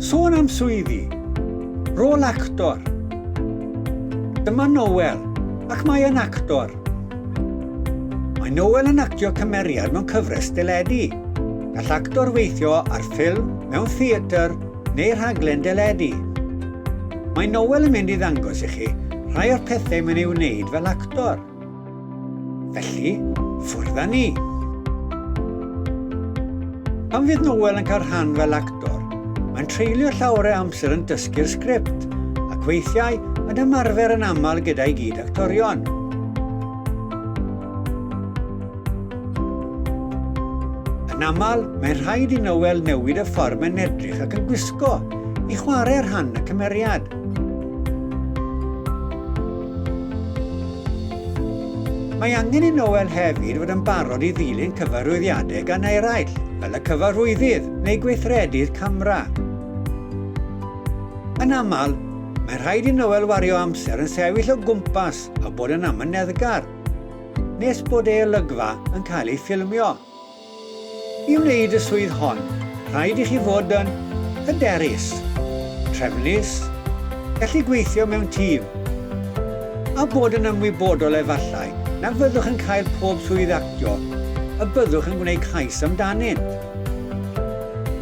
Sôn am swyddi, rôl actor. Dyma Noel, ac mae yn actor. Mae Noel yn actio cymeriad mewn cyfres deledu. Gall actor weithio ar ffilm, mewn theatr neu rhaglen deledu. Mae Noel yn mynd i ddangos i chi rhai o'r pethau mae'n ei wneud fel actor. Felly, ffwrdd â ni! Pan fydd Noel yn cael rhan fel actor, mae'n treulio llawer o amser yn dysgu'r sgript ac weithiau yn ymarfer yn aml gyda'i gyd actorion. Yn aml, mae'n rhaid i Noel newid y ffordd mae'n edrych ac yn gwisgo i chwarae rhan y cymeriad. Mae angen i Noel hefyd fod yn barod i ddilyn cyfarwyddiadau gan eraill, fel y cyfarwyddyd neu gweithredu'r camera. Yn aml, mae'n rhaid i Noel wario amser yn sefyll o gwmpas a bod yn amyneddgar, nes bod ei olygfa yn cael ei ffilmio. I wneud y swydd hon, rhaid i chi fod yn hyderus, trefnus, gallu gweithio mewn tîm, a bod yn ymwybodol efallai na fyddwch yn cael pob swydd actio y byddwch yn gwneud cais amdanynt.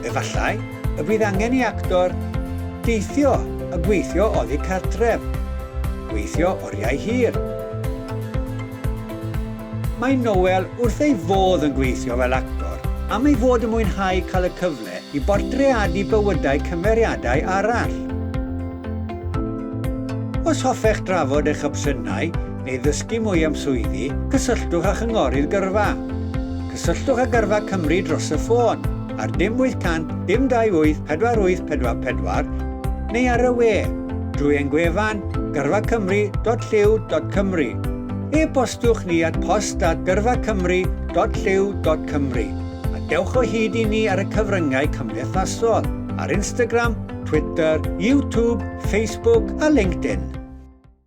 Efallai y bydd angen i actor deithio a gweithio oddi cartref, gweithio oriau hir. Mae Noel wrth ei fodd yn gweithio fel actor am ei fod yn mwynhau cael y cyfle i bortreadu bywydau cymeriadau arall. Os hoffech drafod eich opsiynau neu ddysgu mwy am swyddi, cysylltwch â Chynghorydd Gyrfa. Cysylltwch â Gyrfa Cymru dros y ffôn ar dim 800 dim 28 4844 neu ar y we drwy ein gwefan gyrfacymru.llyw.cymru. E-bostiwch ni at post@gyrfacymru.llyw.cymru a dewch o hyd i ni ar y cyfryngau cymdeithasol, ar Instagram, Twitter, YouTube, Facebook a LinkedIn.